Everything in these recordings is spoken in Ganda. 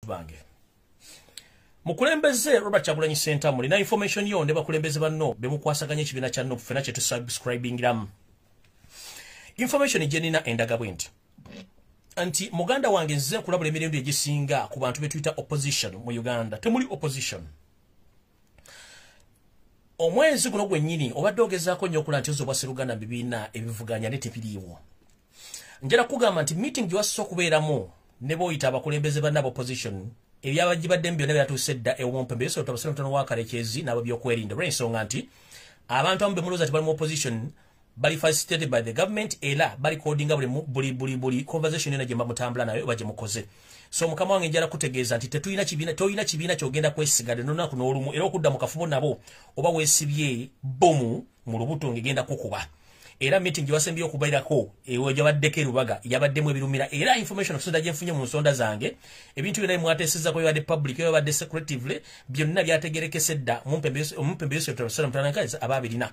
bange mukulembeze robert kyagulanyi sentamu lina information yo ne bakulembeze banno bemukwasaganya ekibiina kya nup fena kyetusubscribingiramu information gyenina endaga bwe nti nti muganda wange nzize nkulabula emirembe egisinga ku bantu betuyita opposition mu uganda temuli opposition omwezi guno gwennyini obadde ogezaako nnyo okula nti ozobwa seruganda bibiina ebivuganya ne tebiriiwo njala kugamba nti meeting gyewasisa okubeeramu ne boyita abakulembeze banna bopposition ebyabagibadde mu byonna byatuuse dda ewomumpembe yosobola tabasira mutono wa kalekyezi n'abo byokwerinda olw'ensonga nti abantu amu bemulooza ti bali mu opposition bali facilitated by the government ela bali codinga buli buli buli buli conversation ena jemba mutambula nayo baje mukoze so mukama wange njala kutegeeza nti tetulina kibiina tolina kibiina kyogenda kwesigade nonaku n'olumu era okudda mu kafubo nabo oba wesibye bomu mu lubuto ngegenda kukuba era meeting gyewasembye okubairako ewo gyabaddeko erubaga yabaddemu ebirumira era information okusonda gyenfunye mu nsonda zange ebintu byona bimwatesezako yabadde public yabadde secretively byonna byategerekese dda omumpembeyosoabaabirina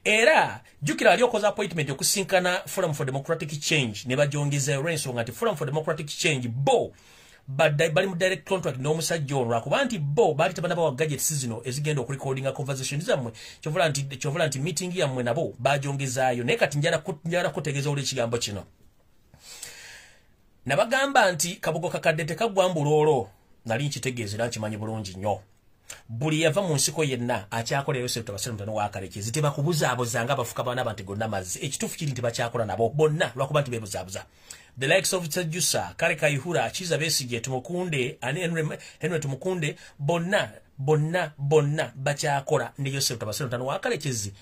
era jukira ali okoza appointment okusinkana forum for democratic change ne bajongeza olwensonga nti forum for democratic change bo bali mu direct contract n'omusajja ono lwakuba nti bo baali tabana bawa gadgets zino ezigenda okurecordinga conversation zammwe kyovola nti kyovola nti meeting yammwe nabo bajongezaayo naye kati njala njala kutegeeza oli ekigambo kino nabagamba nti kabugo kakadde tekagwa mbuloolo nali nkitegeeza era nkimanyi bulungi nnyo buli yava mu nsiko yenna akyakola eyo sente basirmu tano wakaleke ziteba kubuzaabuza nga bafuka bana bantu gonna mazzi ekitufu kiri nti bakyakola nabo bonna lwakuba nti bebuzaabuza the likes of Tsejusa kale kayihura akiza besije tumukunde ani Henry Henry tumukunde bonna bonna bonna bakyakola ne Yosef tabasirmu tano wakalekezi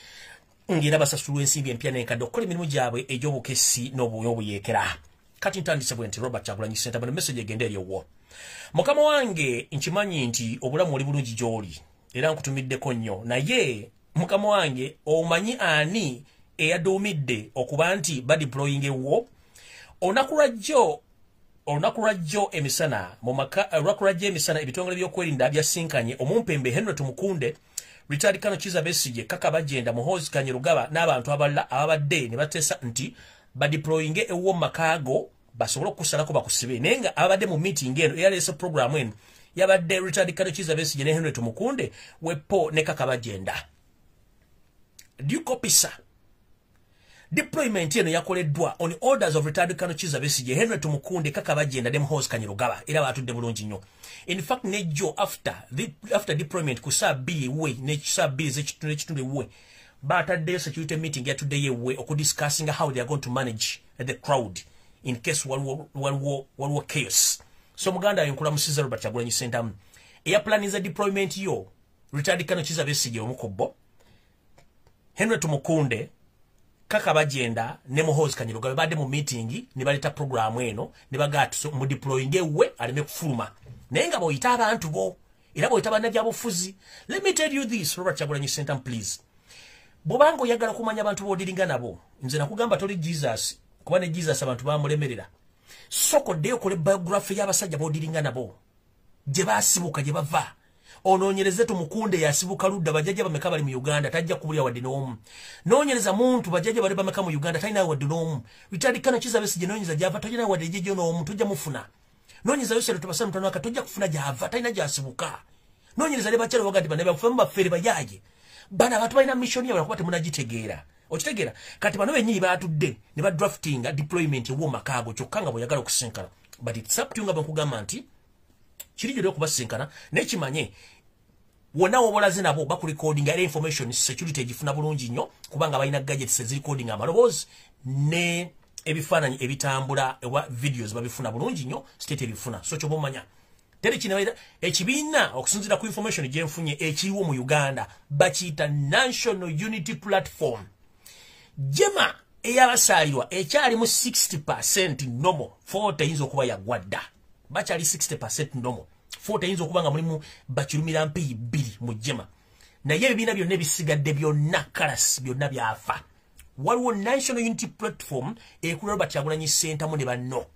ng'era basasulwa ensimbi empya n'enkadde okukola emirimu gyabwe egy'obukessi n'obuyeekera kati ntandise bwe nti robert kyagulanyi senta bano message egenda eri owwo mukama wange nkimanyi nti obulamu oli bulungi gy'oli era nkutumiddeko nnyo naye mukama wange omanyi ani eyaduumidde okuba nti badiploying ewwo olunaku lwajjo olunaku lwajjo emisana mu maka olunaku lwajjo emisana ebitongole by'okwerinda byasinkanye omumpembe henry tumukunde Richard Kano Kiza Besigye kaka bajenda muhozi kanyirugaba n'abantu abalala ababadde ne batesa nti ba deployinge ewo makago basobola okusalako bakusibe naye nga ababadde mu meeting eno eyaleese program eno yabadde Richard Kano Kiza Besigye ne Henry Tumukunde wepo ne kaka bajenda. Do you copy sir? Deployment eno yakoleddwa on orders of retired Colonel Kiza Besigye, Henry Tumukunde, Kaka Bajenda, Dem Hose Kanyirugaba, era batudde bulungi nnyo. In fact, ne Joe after, the, after deployment ku saa bbiri ewuwe ne saa bbiri z'ekitundu ekitundu ewuwe baataddeyo security meeting yatuddeyo ewuwe okudiscussinga how they are going to manage the crowd in case waliwo, waliwo, waliwo chaos. So muganda ayo nkulamusiza Robert Kyagulanyi Ssentamu. Eya planiza deployment yo retired Colonel Kiza Besigye omu ku bo. henry tumukunde kaka bagenda ne muhozi kanyirugabe badde mu meeting ne baleeta programu eno ne bagaa mudeployinge we aleme kufuluma naye nga boyita abantu bo era boyita bannabyabufuzi let me tell you this robert kyagulanyi sentam please bwobanga oyagala kumanya abantu bodiringa nabo nze nakugamba toli jesus kuba ne jesus abantu bamulemerera soko dde okole biography y'abasajja bodiringa nabo gye basibuka gye bava ononyereze tumukunde yasibuka ludda bajaja bameka bali mu Uganda tajja kubulya wadde n'omu nonyereza muntu bajaja bali bameka mu Uganda talina wadde n'omu Richard Kano kiza besi gye nonyereza gyava talina wadde gye n'omu tujja mufuna nonyereza yose lutubasa mutano aka tujja kufuna gyava talina gyasibuka nonyereza ne bakyalo bagati bana bafufa mu bafere bajaje bana abantu balina mission yabwe kuba temunagitegeera okitegeera kati bano bennyini baatudde ne ba draftinga deployment ew'omakaago kyokka nga bwe yagala okusinkana but it's up to you nga bwe nkugamba nti kiri gyolina okubasisinkana naye kimanye wonna wobolaze nabo bakulikodinga era information security egifuna bulungi nnyo kubanga balina gadgets ezirikodinga amaloboozi ne ebifaananyi ebitambula ewa videos babifuna bulungi nnyo state ebifuna so kyoba omanya teri kinaera ekibiina okusinzira ku information gyenfunye ekiriwo mu uganda bakiyita national unity platform jema eyabasaalirwa ekyalimu 60 percent nomo 40 eyinza okuba yagwadda bakyali 60 ndomo fota eyinza okuba nga mulimu bakirumira mpeyi bbiri mu jema naye ebibiina byonna ebisigadde byonna kalas byonna byafa waliwo national unity platform ekula robert yagulanyi sentamu ne banno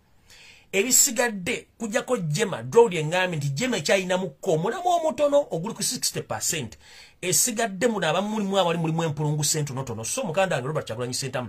ebisigadde kujako jema drowd engambi nti jema ekyayinamukko omulamu omutono oguli ku 60 percent esigadde muno abamulimu abali mulimu empulungu sentonotono so mukanda wange robert kyagulanyi sentamu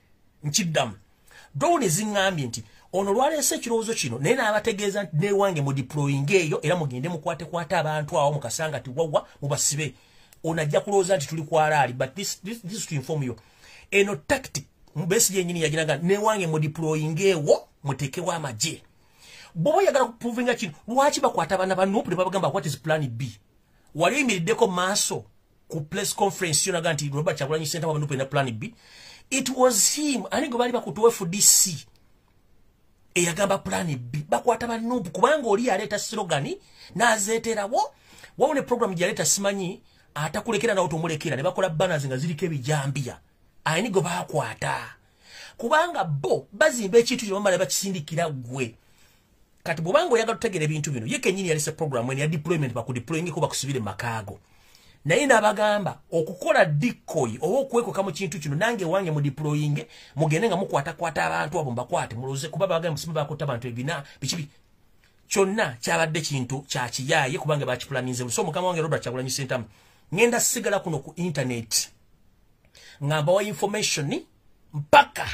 nkiddamu dowuni ziŋŋambye nti ono lwaleese ekirowoozo kino naye n'abategeeza nti newange mu diployinga eyo era mugende mukwatekwate abantu awo mukasanga ti wawa mubasibe ono ajja kulowooza nti tuli kwalaali but this, this, this to inform you eno tactic mbesi yenyini yaginaga newange mu diployinga ewo mutekewo amagye bwoba oyagala kuprovinga kino lwaki bakwata abaana ba nupu ne babagamba what is plan b wali oyimiriddeko maaso ku press conference yo naga nti robert kyagulanyi senta wabanupe na plan b it was him ani gwe baali bakutuwa fdc eyagamba plan b bakwata banupu kubanga oli yaleeta sirogani nazeeterawo wawo ne program gyeyaleeta simanyi atakulekera nawo tomulekera ne bakola banners nga ziriko ebijambiya ani gwe bakwata kubanga bo bazimba ekintu kino bamala bakisindikira gwe kati bwobanga oyagala tutegera ebintu bino ye kenyini yalese program ene ya deployment bakudeployingeko bakusibire makaago naye nabagamba okukola dikoyi oba okwekoka mu kintu kino nange wange mudeployinge mugende nga mukwatakwata abantu abo mbakwate muloze kuba bagamba musimu bakuta abantu ebina bikibi kyonna kyabadde kintu kyakiyaye kubanga bakipulaninze buso mukama wange robert kyagulanyi sentamu ngenda sigala kuno ku intaneti nga mbawa information mpaka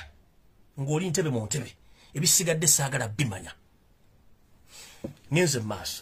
ng'oli ntebe mu ntebe ebisigadde saagala bimanya ngenze mu maaso